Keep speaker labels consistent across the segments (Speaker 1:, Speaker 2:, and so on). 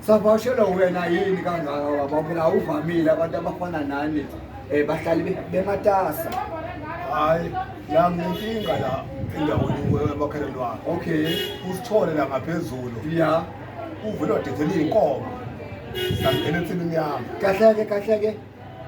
Speaker 1: Savakashelwa wena yini kangaka waba phela awuvamile abantu abafana nani um bahlali be- bematasa hayi
Speaker 2: la nginenkinga la endaweni emakheleni wakhe okay usithole
Speaker 1: la
Speaker 2: ngaphezulu ya
Speaker 1: uvele wadedela
Speaker 2: iy'nkomo sangena ensimini yami kahleke kahleke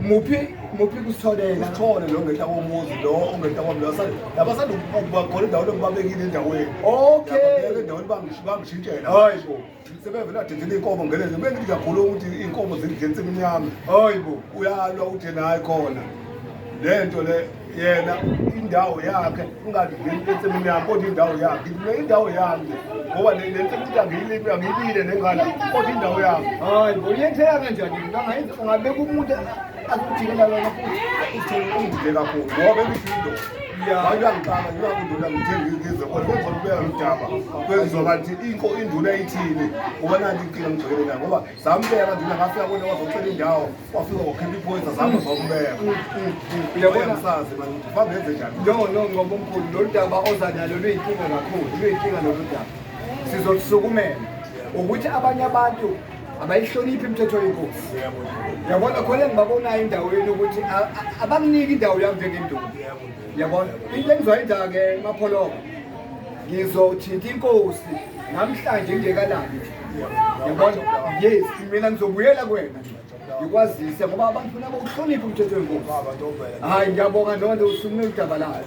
Speaker 1: muphi muphi kusitholela usithole lo ngehla
Speaker 2: komuzi lo ongehla kwami lo sa- laba sanda ukuba khona endaweni engibabekile endaweni okay Yababeka
Speaker 1: endaweni bangish-
Speaker 2: bangishintshela hayi bo
Speaker 1: Sebevele adedele
Speaker 2: iy'nkomo ngelezi kube ngithi ngiyakhuluma ukuthi iy'nkomo zidla ensimini yami hayi bo uyalwa
Speaker 1: uthi yena
Speaker 2: hayi khona le nto le yena indawo yakhe ungadleli ensimini yami kodwa indawo yakhe le indawo yami ngoba le le nsimini angiyilimi angiyibile nengala kodwa indawo yami hayi bo uyethela
Speaker 1: kanjani mntana ungabeka umuntu akujikela wena futhi uthenge ungidle
Speaker 2: kakhulu ngoba ebidinto wayangiqala ngingakundula ngithenge ngize kodwa kwenza kubeka lodaba kwenziwa kanti inko induna ithini ngoba nanti inkinga ngigcwele nayo ngoba zambeka nduna ngafika kona wazocela indawo wafika wakhipha iphoyisa zami zombeka uyabonasazi
Speaker 1: manje
Speaker 2: uhambe enze njani no no ngoba omkhulu
Speaker 1: lolu daba oza nalo luyinkinga kakhulu luyinkinga lolu daba sizolisukumela ukuthi abanye abantu abayihloniphi imithetho yenkosi yabona khona engibabonayo endaweni ukuthi abanginiki indawo yami njengenduku yabona into engizoyenza-ke mapholoka ngizothinta inkosi namhlanje ngingekalali yabona yes mina ngizobuyela kwena ngikwazise ngoba abantu funa bokuhlonipha umthetho wenkosi hayi ngiyabonga nonto usukume udaba layo